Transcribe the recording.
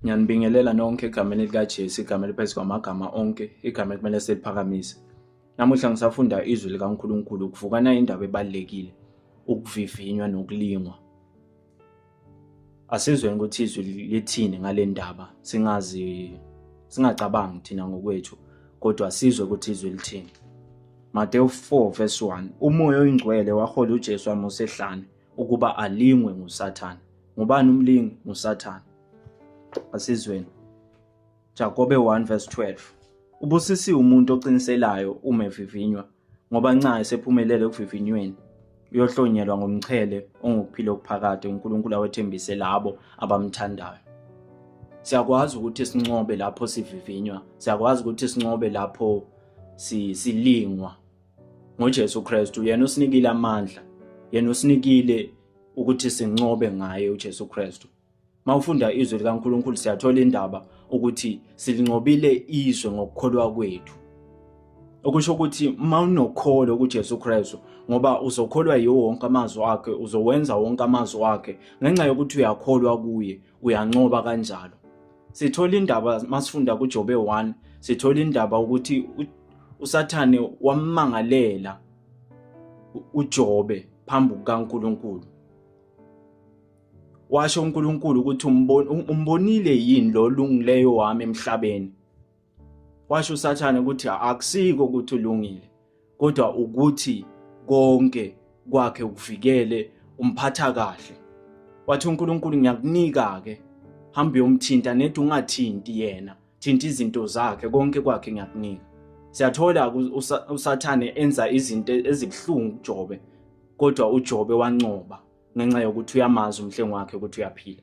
Ngiyanibingelela nonke egameni likaJesu, igama eliphezu kwamagama onke, igama ekumele seliphakamise. Namuhla ngisafunda izwi likaNkulunkulu, ukuvukana indaba ebalulekile, ukuvivinywa nokulingwa. Asizweni ukuthi izwi lithini ngale ndaba, singazi singacabangi thina ngokwethu, kodwa sizwe ukuthi izwi lithini. Mateyu 4 verse 1 umoya oyingcwele wahola uJesu amusa ehlane ukuba alingwe nguSathane. Ngubani umlingi? NguSathane. Asizweni. Jakobe 1 verse 12. Ubusisiwe umuntu oqiniselayo uma evivinywa, ngoba nxa esephumelele ekuvivinyweni, uyohlonyelwa ngomchele ongukuphila okuphakade uNkulunkulu awethembise labo abamthandayo. Siyakwazi ukuthi sincobe lapho sivivinywa, siyakwazi ukuthi sincobe lapho silingwa. ngoJesu Kristu yena usinikile amandla yena usinikile ukuthi sincobe ngaye uJesu Kristu mawufunda izwi likaNkuluNkulu siyathola indaba ukuthi silinqobile izwe ngokukholwa kwethu okusho ukuthi uma unokholo kuJesu Kristu ngoba uzokholwa yiwo wonke amazwi akhe uzowenza wonke amazwi akhe ngenxa yokuthi uyakholwa kuye uyancoba kanjalo Sithola indaba masifunda kuJobe 1, sithola indaba ukuthi uSathane wammangalela uJobe phambi kukaNkuluNkulu. Washo uNkuluNkulu ukuthi umbonile yini lo lungileyo wami emhlabeni. Washo uSathane ukuthi akusiko ukuthi ulungile kodwa ukuthi konke kwakhe ukuvikele umphatha kahle. Wathi uNkulunkulu ngiyakunika ke hamba uyomthinta nethi ungathinti yena thinta izinto zakhe konke kwakhe ngiyakunika. Siyathola uSathane enza izinto ezibuhlungu kuJobe kodwa uJobe wancoba ngenxa yokuthi uyamazi umhlengi wakhe ukuthi uyaphila.